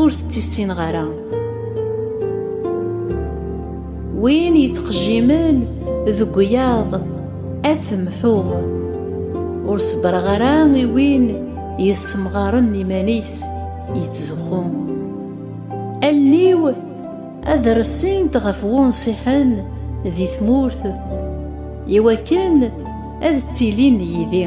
Ur tettissineɣ ara. Win yettqejjimen deg wiyaḍ ad t-mḥuɣ. Ur ṣebbreɣ ara i win yessemɣaren iman-is yettzuxxu. Allen-iw ad ressint ɣef wunṣiḥen di tmurt iwakken ad ttilin yid-i.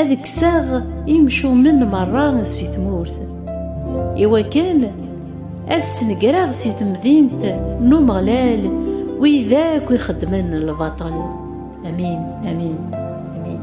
ad kkseɣ imcumen merra si tmurt, iwakken ad snegreɣ si temdint n Umeɣlal wid akk ixeddmen lbaṭel. Amin, amin, amin.